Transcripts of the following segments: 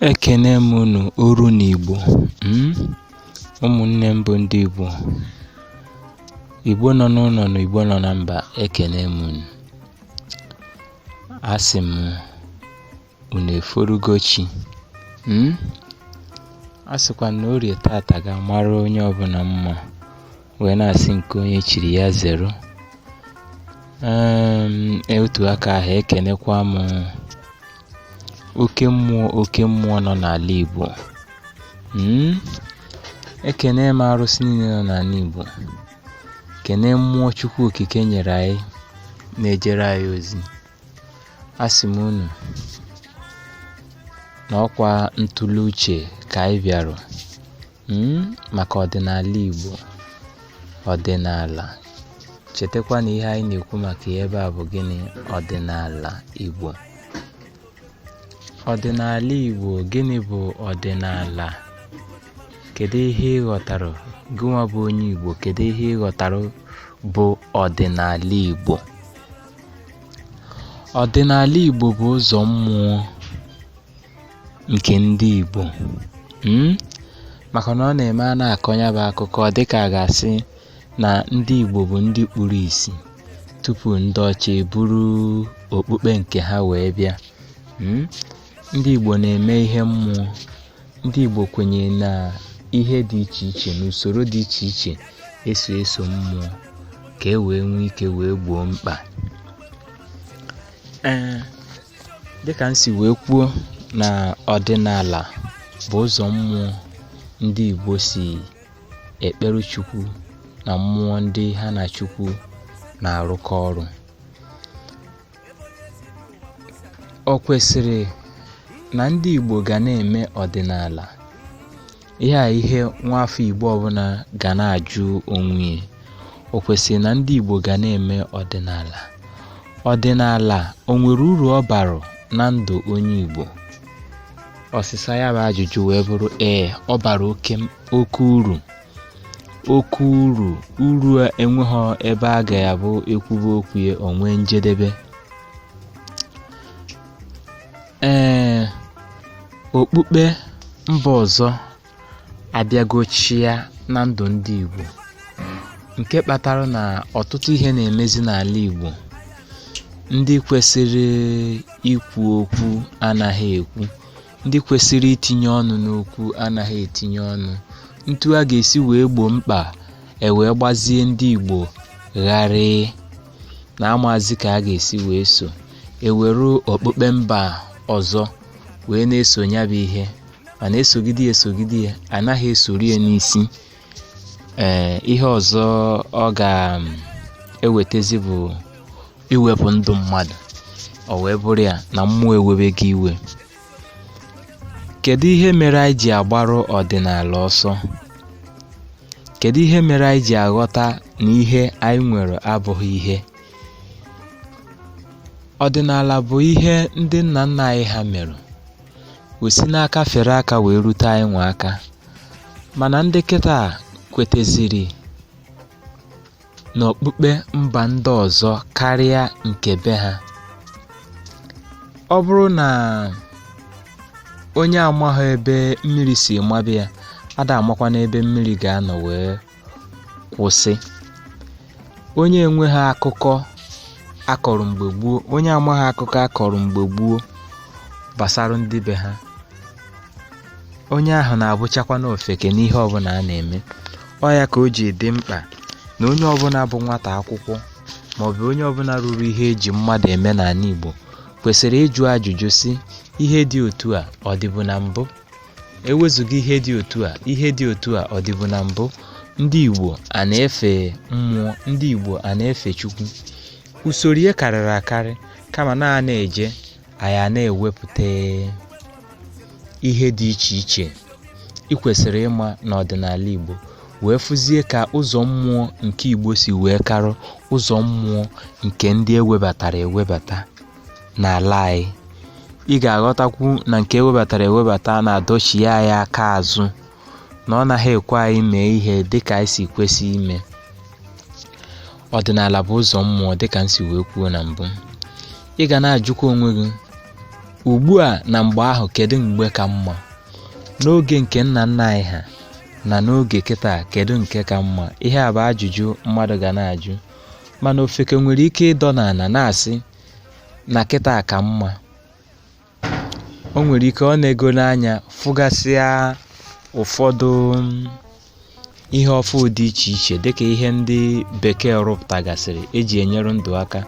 Ekene m unu oru n'Igbo um ụmụnne m bụ ndị Igbo Igbo nọ n'ụlọ na Igbo nọ na mba ekene m unu asị m unu eforugo chi um asịkwa m na orie tata ga-amara onye ọbụla mma wee na-asị nke onye chiri ya zeru otu aka ahụ ekenekwa m oke mmụọ oke mmụọ nọ n'ala Igbo hmm? ekene m arụsị niile nọ n'ala Igbo kene mmụọ Chukwu Okike nyere anyị na-ejere anyị ozi asị m unu na ọkwa ntụle uche ka anyị bịara Hmm, maka ọdịnala Igbo ọdịnala chetakwa na ihe anyị na-ekwu maka ya ebe a bụ gịnị ọdịnala Igbo ọdịnala Igbo gịnị bụ ọdịnala kedu ihe ị ghọtara gịnwa bụ onye Igbo kedu ihe ị ghọtara bụ ọdịnala Igbo ọdịnala Igbo bụ ụzọ mmụọ nke ndị Igbo hmm? maka na ọ na-eme a na-akọ nya bụ akụkọ dịka a ga-asị na ndị Igbo bụ ndị kpuru isi tupu ndị ọcha eburu okpukpe nke ha wee bịa hmm? ndị Igbo na-eme ihe mmụọ ndị Igbo kwenyere na ihe dị iche iche na usoro dị iche iche esi eso mmụọ ka e wee nwee ike wee gboo mkpa ee dịka m si wee kwuo na ọdịnala bụ ụzọ mmụọ ndị Igbo si ekpere Chukwu na mmụọ ndị ha na Chukwu na-arụkọ ọrụ o kwesịrị na ndị Igbo ga na-eme ọdịnala ihe a ihe nwa afọ igbo ọbụla ga na-ajụ onwe ya o kwesịrị na ndị igbo ga na-eme ọdịnala ọdịnala o nwere uru ọ bara na ndụ onye igbo ọsịsa ya bụ ajụjụ wee bụrụ ee ọ bara oke oke uru oke uru uru enweghị ebe a ga ya bụ ekwube okwu ya o nwee njedebe Ee, okpukpe mba ọzọ abịago chịa na ndụ ndị Igbo nke kpatara na ọtụtụ ihe na-emezi n'ala Igbo ndị kwesịrị ikwu okwu anaghị ekwu ndị kwesịrị itinye ọnụ n'okwu anaghị etinye ọnụ ntu a ga-esi wee gboo mkpa e wee gbazie ndị Igbo gharịị na amazi ka a ga-esi wee so eweru okpukpe mba ọzọ wee na-eso ya bụ ihe mana esogide ya esogide ya anaghị esori ya n'isi ee ihe ọzọ ọ ga-ewetezi bụ iwepụ ndụ mmadụ o wee bụrụ ya na mmụọ ewebego iwe kedu ihe mere anyị ji agbarụ ọdịnala ọsọ kedu ihe mere anyị ji aghọta na ihe anyị nwere abụghị ihe Ọdịnala bụ ihe ndị nna nna anyị ha mere wee si n'aka fere aka wee rute anyị nwa aka mana ndị kịta kweteziri n'okpukpe mba ndị ọzọ karịa nke be ha ọ bụrụ na onye amaghị ebe mmiri si mabe ya ada amakwanụ ebe mmiri ga-anọ wee kwụsị onye enweghị akụkọ akọrọ mgbe gboo onye amaghị akụkọ akọrọ mgbe gboo gbasara ndị be ha onye ahụ na-abụchakwanụ ofeke n'ihe ọbụla a na-eme ọ ya ka o ji dị mkpa na onye ọbụla bụ nwata akwụkwọ maọbụ onye ọbụla ruru ihe eji mmadụ eme n'ala Igbo kwesịrị ịjụ ajụjụ sị ihe dị otu a ọ dịbu na mbụ Ewezuga ihe dị otu a, ihe dị otu a ọ dịbu na mbụ? Ndị Igbo a na-efe mmụọ, ndị Igbo a na-efe Chukwu. Usoro ihe karịrị akarị kama na a na-eje anyị na-ewepụta ihe dị iche iche ị kwesịrị ịma n'ọdịnala Igbo wee fụzie ka ụzọ mmụọ nke Igbo si wee karụ ụzọ mmụọ nke ndị ewebatara ewebata. n'ala anyị ị ga-aghọtakwu na nke ewebatara ewebata na-adọchi anyị aka azụ na ọ naghị ekwe anyị mee ihe dịka anyị si kwesị ime ọdịnala bụ ụzọ mmụọ dịka m si wee kwuo na mbụ ị ga na-ajụkwa onwe gị ugbu a na mgbe ahụ kedu mgbe ka mma n'oge nke nna nna anyị ha na n'oge kịta kedu nke ka mma ihe a bụ ajụjụ mmadụ ga na-ajụ mana ofeke nwere ike ịdọ n'ala na-asị na kịta ka mma o nwere ike o negonụ anya fụgasịa ụfọdụ ihe ọfụ dị iche iche dịka ihe ndị bekee rụpụtagasịrị eji enyere ndụ aka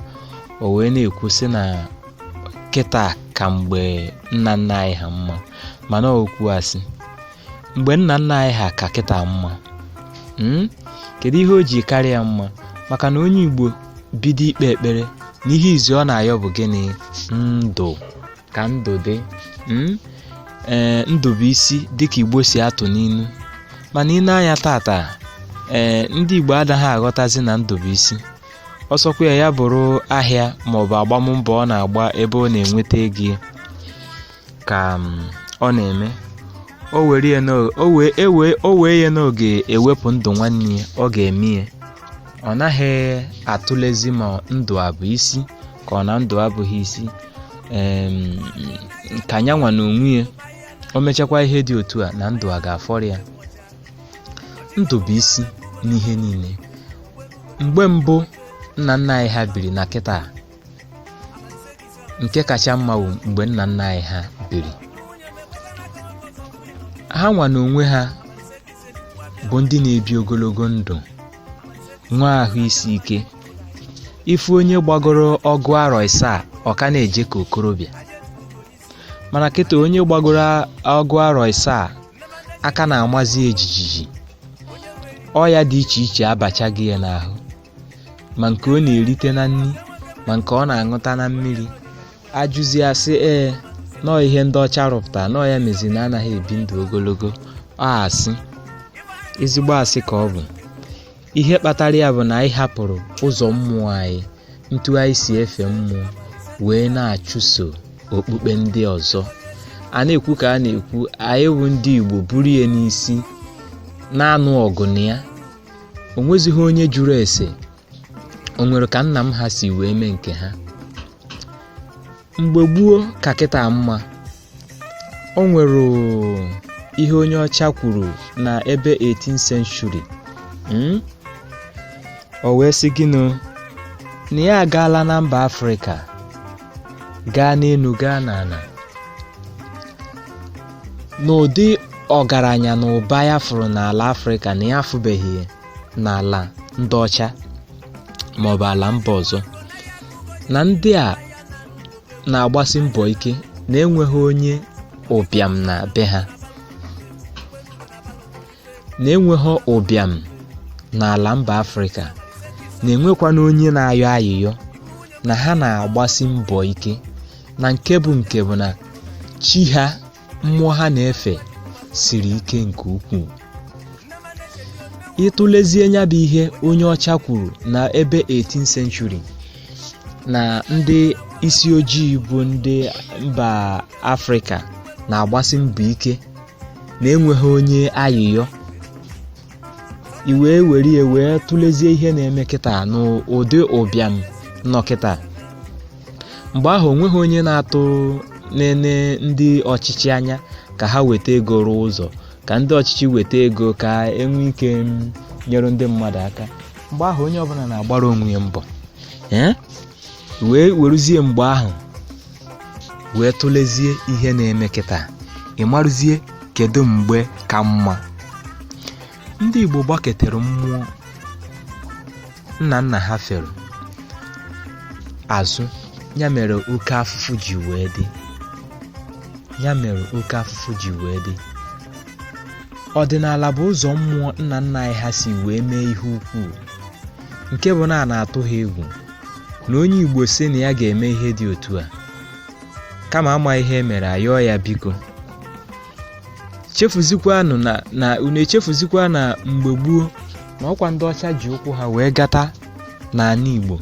o wee na-ekwu sị na kịta ka mgbe nna nna anyị ha mma mana ọ okwu asị mgbe nna nna anyị ha ka kịta mma hmm? kedu ihe o ji karịa mma maka na onye igbo bido ikpe ekpere na ihe izi ọ na-ayọ bụ gịnị ndụ ka ndụ dị hmm? ee ndụ bụ isi dịka igbo si atụ n'inu mana i nee anya tata ee ndị igbo adaghị aghọtazi na ndụ bụ isi ọ sọkwa ya ya bụrụ ahịa maọbụ agbammbọ ọ na-agba ebe ọ na-enweta ego ka um, ọ na-eme o wee ya na ọ ga-ewepụ ndụ nwanne ya ọ ga-eme ya ọ naghị atụlezi ma ndụ abụ isi ka ọ na ndụ abụghị isi ka nya nwa na onwe ya o mechakwa ihe dị otu a na ndụ a ga-afọrọ ya ndụ bụ isi n'ihe niile mgbe mbụ nna nna anyị ha biri na kịta nke kacha mma bụ mgbe nna nna anyị ha biri ha nwa n'onwe ha bụ ndị na-ebi ogologo ndụ nwee ahụ isi ike ị fụ onye gbagoro ọgụ arọ isaa ọ ka na-eje ka okorobịa mana kịta onye gbagoro ọgụ arọ isaa aka na-amazi ya jijiji ọya dị iche iche abachago ya n'ahụ ma nke ọ na-erite na nri ma nke ọ na-aṅụta na mmiri a jụzie a sị ee na ọ ihe ndị ọcha rụpụta na ọ ya mezi na anaghị ebi ndụ ogologo ọ asị ezigbo asị ka ọ bụ ihe kpatara ya bụ na anyị hapụrụ ụzọ mmụọ anyị ntu anyị si efe mmụọ wee na-achụso okpukpe ndị ọzọ a na-ekwu ka a na-ekwu anyị bụ ndị Igbo buru ya n'isi na-anụ ọgụ na ya o nwezighị onye jụrụ ese o nwere ka nna m ha si wee mee nke ha mgbe gboo ka kịta mma o nwere ihe onye ọcha kwuru na ebe 18 century mm? o wee sị gịnụ na ya agaala na mba afrịka gaa n'elu gaa n'ala na ụdị ọgaranya na ụba ya fụrụ n'ala afrịka na ya afụbeghị n'ala ndị ọcha maọbụ ala mba ọzọ na ndị a na-agbasi mbọ ike na enweghị onye ụbịam na be ha na enweghị ụbịam n'ala mba afrịka na enwekwana onye na-ayọ ayịyọ na ha na-agbasi mbọ ike na nke bụ nke bụ na chi ha mmụọ ha na-efe siri ike nke ukwuu ị tụlezie nya bụ ihe onye ọcha kwuru na ebe 18 century na ndị isi ojii bụ ndị mba afrịka na-agbasi mbọ ike na enweghị onye ayịyọ i wee were ya wee tụlezie ihe na-eme kịta n'ụdị ụbịam nọ kịta mgbe ahụ o nweghị onye na-atụ na-ene ndị ọchịchị anya ka ha weta ego rụọ ụzọ ka ndị ọchịchị weta ego ka e nwee ike nyere ndị mmadụ aka mgbe ahụ onye ọbụla na-agbara onwe ya mbọ ee i wee weruzie mgbe ahụ wee tụlezie ihe na-eme kịta ị marụzie kedu mgbe ka mma ndị Igbo gbaketere mmụọ nna nna ha fere azụ ya mere oke afụfụ ji wee dị ọdịnala bụ ụzọ mmụọ nna nna anyị ha si wee mee ihe ukwuu nke bụ na a na-atụ ha egwu na onye Igbo sị na ya ga-eme ihe dị otu a kama a ma ihe e mere a yọọ ya biko chefuzikwanụ na na unu echefuzikwa na mgbe gboo na ọkwa ndị ọcha ji ụkwụ ha wee gata n'ala Igbo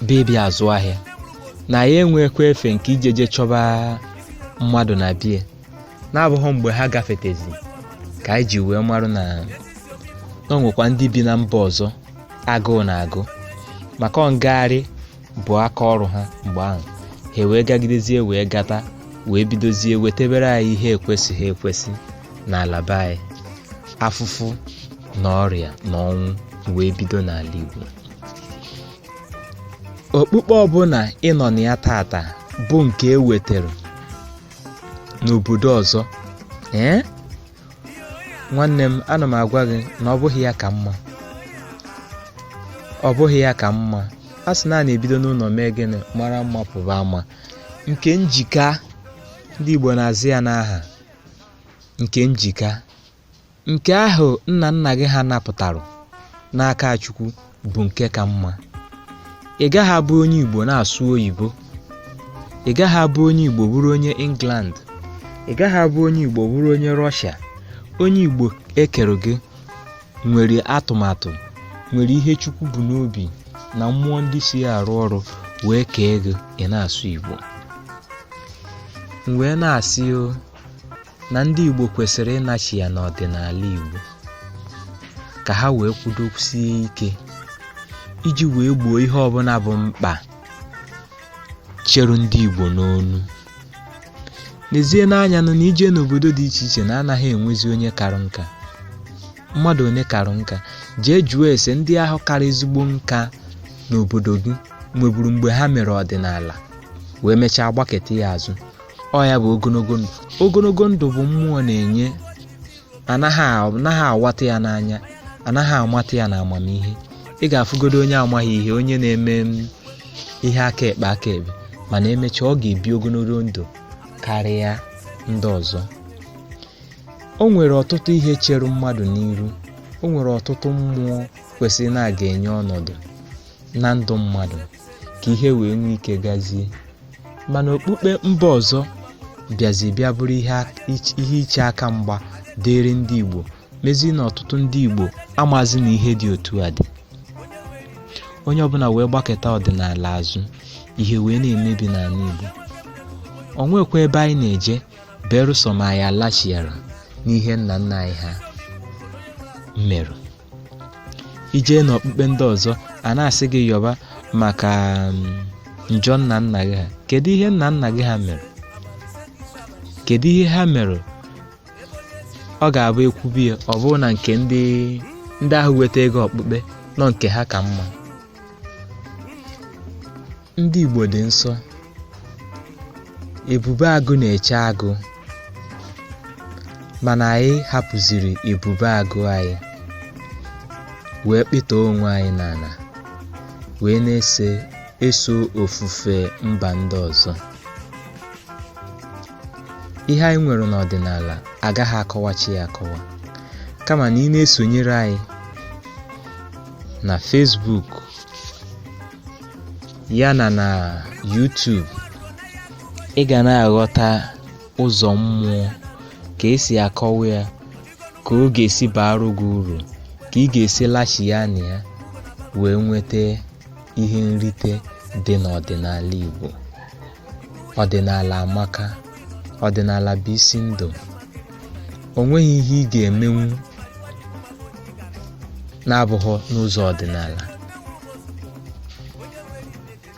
ebe e bi azụ ahịa na ya enwekwa efe nke ijeje chọba mmadụ na be ya na-abụghị mgbe ha gafetezi ka anyị ji wee marụ na o nwekwa ndị bi na mba ọzọ agụụ na-agụ maka ọ ngagharị bụ aka ọrụ ha mgbe ahụ ha wee gagidezie wee gata wee bidozie wetebere anyị ihe ekwesịghị ekwesị n'ala be anyị afụfụ na ọrịa na ọnwụ wee bido n'ala Igbo okpukpe ọbụla ị nọ na ya tata bụ nke e wetara n'obodo ọzọ ee nwanne m ana m agwa gị na ọ bụghị ya ka mma ọ bụghị ya ka mma a sị na a na-ebido n'ụlọ mee gịnị mara mma pụba ama nke m ji ka ndị Igbo na-aza ya n'aha nke m ji ka nke ahụ nna nna gị ha napụtara n'aka chukwu bụ nke ka mma ị gaghị abụ onye igbo na-asụ oyibo ị gaghị abụ onye igbo bụrụ onye england ị gaghị abụ onye igbo bụrụ onye russia onye igbo e kere gị nwere atụmatụ nwere ihe chukwu bu n'obi na mmụọ ndị so ya arụ ọrụ wee kee gị ị na-asụ igbo m wee na-asị o na ndị Igbo kwesịrị ịnachigha n'ọdịnala Igbo ka ha wee kwudosie ike iji wee gboo ihe ọbụla bụ mkpa cheru ndị Igbo n'onu neezienụ anya nụ na i jee n'obodo dị iche iche na a naghị enwezi onye karụ nka mmadụ onye karụ nka jee jụọ ese ndị ahụ kara ezigbo nka n'obodo gị nweburu mgbe ha mere ọdịnala wee mechaa gbaketa ya azụ ọ ya bụ ogologo ndụ ogologo ndụ bụ mmụọ na-enye anaghị awata ya n'anya anaghị amata ya na amamihe ị ga-afụgodo onye amaghị ihe onye na-eme ihe aka ekpe aka ekpe mana emechaa ọ ga-ebi ogologo ndụ karịa ndị ọzọ o nwere ọtụtụ ihe chere mmadụ n'iru o nwere ọtụtụ mmụọ kwesịrị na a ga-enye ọnọdụ na ndụ mmadụ ka ihe wee nwee ike gazie mana okpukpe mba ọzọ bịazi bịa bụrụ ihe iche aka mgba dịịrị ndị Igbo mezi na ọtụtụ ndị Igbo amazi na ihe dị otu a dị onye ọbụla wee gbakịta ọdịnala azụ ihe wee na-emebi n'ala Igbo o nwekwa ebe anyị na-eje berụsọ ma anyị alachiara n'ihe nna nna anyị ha merụ i jee n'okpukpe ndị ọzọ a na-asị gị yọba maka um, njọ nna nna gị ha kedu ihe nna nna gị ha mere kedu ihe ha mere ọ ga-abụ e kwubie ya ọ bụrụ na nke ndị ndị ahụ wetaga okpukpe na ọ nke ha ka mma ndị Igbo dị nsọ ebube agụ na-eche agụ mana anyị hapụziri ebube agụ anyị wee kpịta onwe anyị n'ala wee na-eso eso ofufe mba ndị ọzọ ihe anyị nwere n'ọdịnala agaghị akọwacha ya akọwa kama na ị na-esonyere anyị na Facebook yana na YouTube ị ga na-aghọta ụzọ mmụọ ka e si akọwa ya ka ọ ga-esi baara gị uru ka ị ga-esi lachia na ya wee nweta ihe nrite dị n'ọdịnala Igbo ọdịnala amaka ọdịnala bụ isi ndụ o nweghị ihe ị ga-emenwu na-abụghị n'ụzọ ọdịnala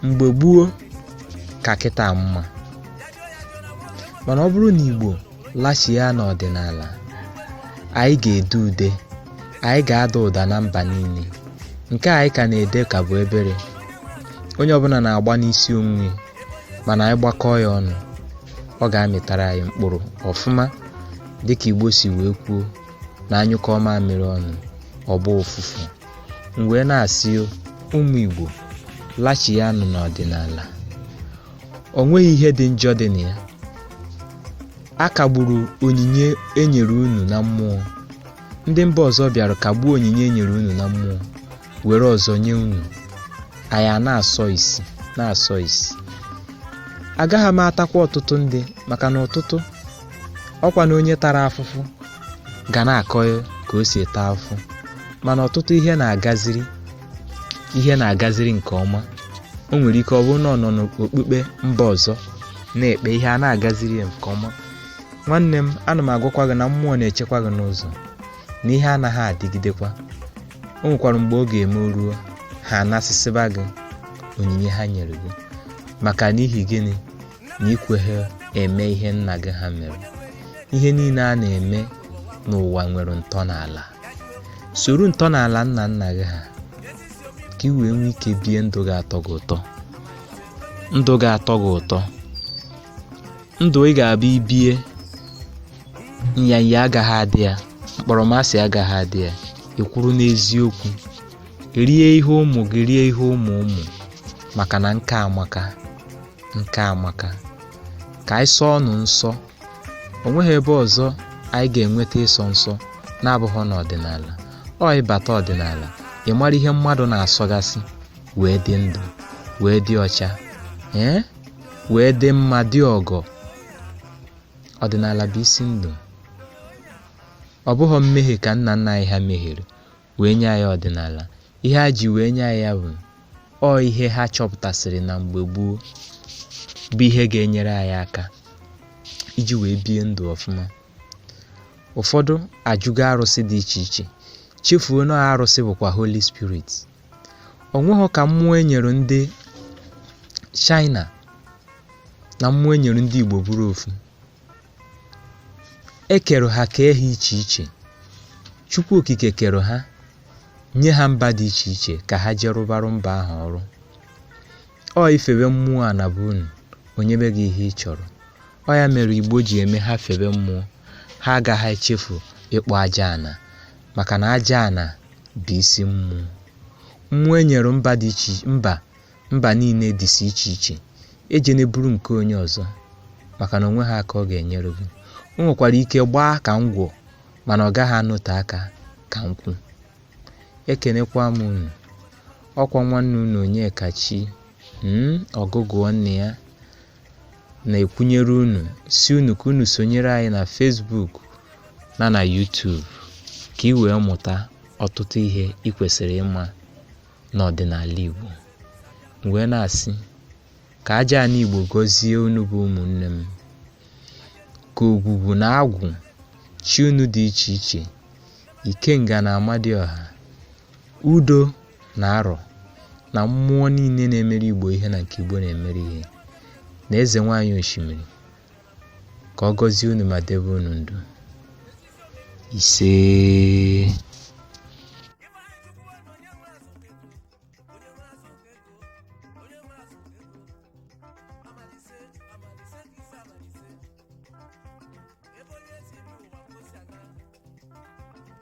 mgbe gboo ka kịta mma mana ọ bụrụ na igbo lachia n'ọdịnala anyị ga-ede ude anyị ga-ada ụda na mba niile nke anyị ka na-ede ka bụ obere onye ọbụla na-agba n'isi onwe mana anyị gbakọọ ya ọnụ ọ ga-amịtara anyị mkpụrụ ọfụma dịka igbo si wee kwuo na a nyụkọọ mamịrị ọnụ ọ gbaa ụfụfụ m wee na-asị ụmụ igbo lachianụ n'ọdịnala o nweghị ihe dị njọ dị na ya a kagburu onyinye e nyere unu na mmụọ ndị mba ọzọ bịara kagbuo onyinye e nyere unu na mmụọ were ọzọ nye unu anyị a na-asọ isi na-asọ isi agaghị m atakwa ọtụtụ ndị maka na ọtụtụ ọkwa na onye tara afụfụ ga na-akọ ya ka o si taa afụfụ mana ọtụtụ ihe na-agaziri ihe na-agaziri nke ọma o nwere ike ọ bụrụ na ọ nọ n'okpukpe mba ọzọ na-ekpe ihe a na-agaziri ya nke ọma nwanne m ana m agwakwa gị na mmụọ na-echekwa gị n'ụzọ na ihe anaghị adịgidekwa o nwekwara mgbe ọ ga-eme o ruo ha anasịsịba gị onyinye ha nyere gị maka n'ihi gịnị na i kweghị eme ihe nna gị ha mere ihe niile a na-eme n'ụwa nwere ntọala soro ntọala nna nna gị ha ka ị wee nwee ike bie ndụ ga-atọ gị ụtọ ndụ ga-atọ gị ụtọ ndụ ị ga-abụ i bie nyanya agaghị adị ya mkpọrọmasị agaghị adị ya ị kwụrụ n'eziokwu rie ihe ụmụ gị rie ihe ụmụ ụmụ maka na nka amaka nka amaka ka anyị sọọnụ nsọ o nweghị ebe ọzọ anyị ga-enweta ịsọ nsọ na-abụghị n'ọdịnala ọ ị bata ọdịnala ị mara ihe mmadụ na-asọgasị wee dị ndụ wee dị ọcha ee wee dị mma dị ọgọ Ọdịnala bụ isi ndụ. Ọ bụghị mmehie ka nna nna anyị ha mehiere wee nye anyị ọdịnala. Ihe ha ji wee nye anyị ya bụ ọ ihe ha chọpụtasịrị na mgbe gboo bụ ihe ga-enyere anyị aka iji wee bie ndụ ọfụma. Ụfọdụ ajụgo arụsị dị iche iche chefuo na arụsị bụkwa Holy Spirit. o nweghị ka mmụọ e nyere ndị China na mmụọ e nyere ndị Igbo bụrụ ofu e kere ha kee ha iche iche Chukwu okike kere ha nye ha mba dị iche iche ka ha jee rụbarụ mba ahụ ọrụ ọ i febe mmụọ ana be unu o nyebe gị ihe ị chọrọ ọ ya mere Igbo ji eme ha febe mmụọ ha agaghị echefu ịkpọ aja ana maka na aja ana bụ isi mmụọ mmụọ e nyere mba dị iche mba mba niile dịsi iche iche ejene buru nke onye ọzọ maka na o nweghị aka ọ ga-enyere gị o nwekwara ike gbaa ka ngwọ mana ọ gaghị anọte aka ka nkwụ ekenekwa m unu ọkwa nwanne unu onyekachi hmm, ọgụgụ nne ya na-ekwunyere unu sị unu ka unu sonyere anyị na Facebook na na YouTube ka ị wee mụta ọtụtụ ihe ị kwesiri ịma n'ọdịnala Igbo m wee na-asị ka aja ana Igbo gọzie unu bụ ụmụnne m ka ogwugwu na agwụ chi unu dị iche iche ikenga na amadịọha udo na arọ na mmụọ niile na-emere igbo ihe na nke igbo na-emere ihe na eze nwaanyị osimiri ka ọ gọzie unu ma debe unu ndụ ise